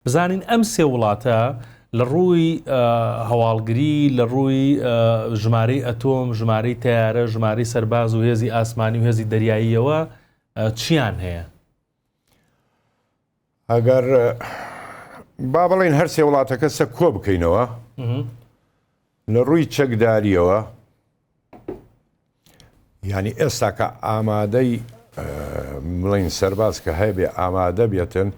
بزانین ئەم سێ وڵاتە لە ڕووی هەواڵگری، لە ڕووی ژمارەی ئەتۆم، ژمارەی تەیارە، ژمارەی سەرباز و هێزی ئاسمانی و هێزی دەریاییەوە چیان هەیە؟ ئەگەر با بڵین هەرسێ وڵاتەکە سە کۆ بکەینەوە لە ڕووی چەکداریەوە ینی ئێستاکە ئامادەی بڵین سەرباز کە هەیە بێ ئامادە بێتن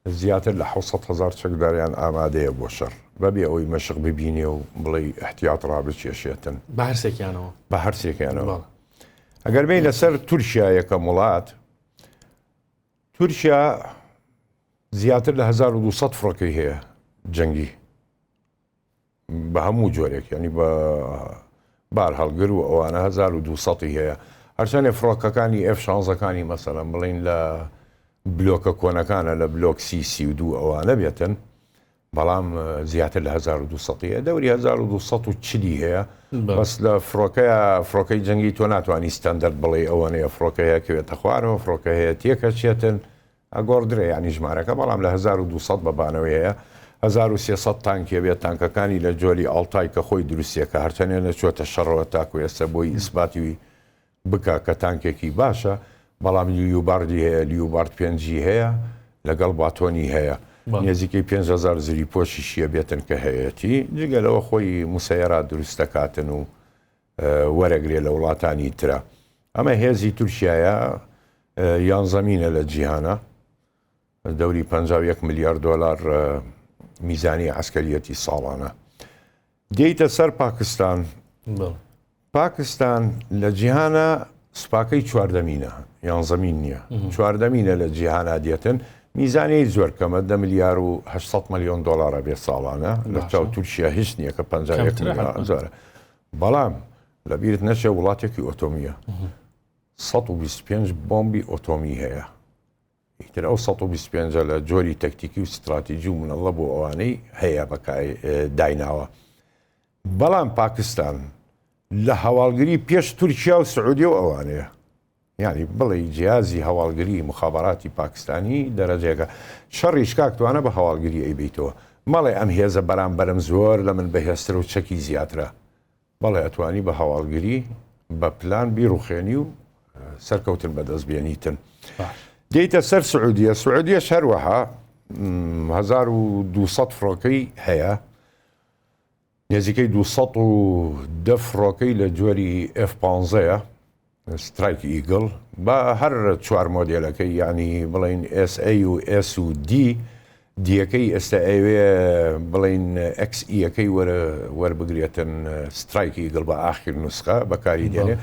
زیاتر لە حەوت سەد هەزار چەکداریان ئامادەیە بۆ شەڕ، بەبێ ئەوەی مەشق ببینێ و بڵێی ئیحتیات ڕابکێشێتن. بە هەرسێکیانەوە؟ بە هەرسێکیانەوە. ئەگەر بێینە سەر تورکیا یەکەم وڵات، تورکیا زیاتر لە هەزار و دوو سەد فڕۆکەی هەیە جەنگی. بە هەموو جۆرێک یعنی بە بارهەڵگر و ئەوانە 1200 هەیە هەرچەندێ فڕۆکەکانی ئێف شانزەکانی مەسەلەن بڵین لە بلۆکە کۆنەکانە لە بلۆک سی سی و دوو ئەوانە بێتن بەڵام زیاتر لە 1200 دەوری 1240 هەیە بەس لە فڕۆکەیە فڕۆکەی جەنگی تۆ ناتوانانی ستەندەر بڵێ ئەوەنەیە فڕۆکەیە کەوێتە خوارەوە فڕۆکە هەیە تێکەچێتن ئەگۆڕدرێ یانی ژمارەکە بەڵام لە هەزار و دوو سەد بە بانەوەی هەیە هەزار و سێ سەد تانک یەبێت تانکەکانی لە جۆری ئاڵتای کە خۆی دروستیەکە هەرچەنێ نەچوەتە شەڕەوە تاکو ئێستا بۆی ئیسباتی بکا کە تانکێکی باشە بەڵام لیوباڕدی هەیە لیوباڕد پێنجی هەیە لەگەڵ باتۆنی هەیە نێزیکەی پێنج هەزار زری پۆشیش یەبێتن کە هەیەتی جگە لەوە خۆی موسەیەرا دروستەکاتن و وەرەگرێ لە وڵاتانی ترە ئەمە هێزی تورکیایە یانزەمینە لە جیهانە دەوری 51 ملیار دۆلار میزانی عسکەریەتی ساڵانە دێیتە سەر پاکستان پاکستان لە جیهانە سوپاکەی چواردەمینە یان زەمین نییە چواردەمینە لە جیهانا دێتن میزانەی زۆر کەمە دە ملیار و 800 ملیۆن دلارە بێ ساڵانە لە چاو تورکیا هیچ نییە کە 5 زۆرە بەڵام لە بیرت نەچێ وڵاتێکی ئۆتۆمیە سەد و بیست و پێنج بۆمبی ئۆتۆمی هەیە ئیتر ئەو سەد و بیست و پێنج لە جۆری تەکتیکی و ستراتیجی و منەڵە بۆ ئەوانەی هەیە بەکای دایناوە بەڵام پاکستان لە هەواڵگری پێش تورکیا و سعودیە و ئەوانەیە یانی بڵێی جیازی هەواڵگری موخابەراتی پاکستانی دەرەجەیەکە شەڕیش کاک توانا بە هەواڵگری ئەیبەیتەوە مەڵێ ئەم هێزە بەرامبەرم زۆر لە من بەهێزترە و چەکی زیاترە بەڵێ ئەتوانی بە هەواڵگری بە پلان بیڕوخێنی و سەرکەوتن بەدەست بێنیتن دێیتە سەر سعودیە سعودیەش هەروەها 1200 فڕۆکەی هەیە نزیکەی دوو سەد و دە فڕۆکەی لە جۆری ئێف پانزە یە سترایک ئیگڵ بە هەر چوار مۆدێلەکەی یانی بڵێین ئێس ئەی و ئێس و دی دیەکەی ئێستا ئەیەوێ بڵێین ئەکس ئیەکەی وەربگرێتن سترایک ئیگڵ بە ئاخیر نوسخە بەکاری دێنێ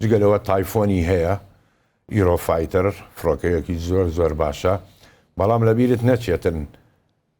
جگە لەوە تایفۆنی هەیە ئیرۆفایتەر فڕۆکەیەکی زۆر زۆر باشە بەڵام لەبیرت نەچێتن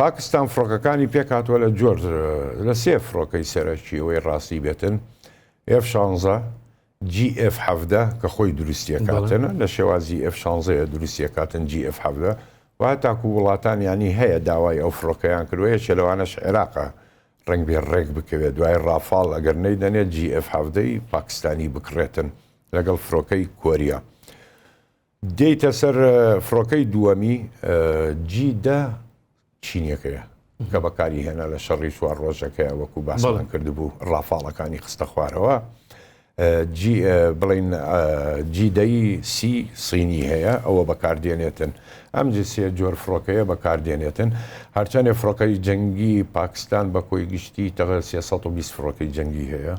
پاکستان فڕۆکەکانی پێکهاتووە لە جۆر لە سێ فڕۆکەی سەرەکی ئەوەی ڕاستی بێتن ئێف شانزە GF حەفدە کە خۆی دروستیەکاتنە لە شێوازی ئێف شانزەیە دروستیەکاتن GF حەفدە و تاکو وڵاتانیانی هەیە داوای ئەو فڕۆکەیان کردوە یەکێ لەوانەش عێراقە ڕنگ بێ ڕێک بکەوێت دوای ڕافاڵ ئەگەر نەیدەنێت GF حەفدەی پاکستانی بکڕێتن لەگەڵ فڕۆکەی کۆریا. دێیتە سەر فڕۆکەی دووەمی جی دە چینیەکەیە کە بەکاری هێنا لە شەڕی چوار ڕۆژەکەی وەکو باسڵان کردبوو ڕافاڵەکانی خستە خوارەوە بڵین جیدەی سی سینی هەیە ئەوە بەکاردێنێتن ئەم جسێ جۆر فڕۆکەیە بەکاردێنێتن هەرچەندێ فڕۆکەی جەنگی پاکستان بە کۆی گشتی تەغە 320 فڕۆکەی جەنگی هەیە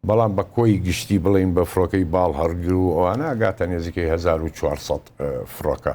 بەڵام بە کۆی گشتی بڵێین بە فڕۆکەی باڵ هەڕگر و ئەوانە ئەگاتە نێزیکەی هەزار و چوار سەد فڕۆکە.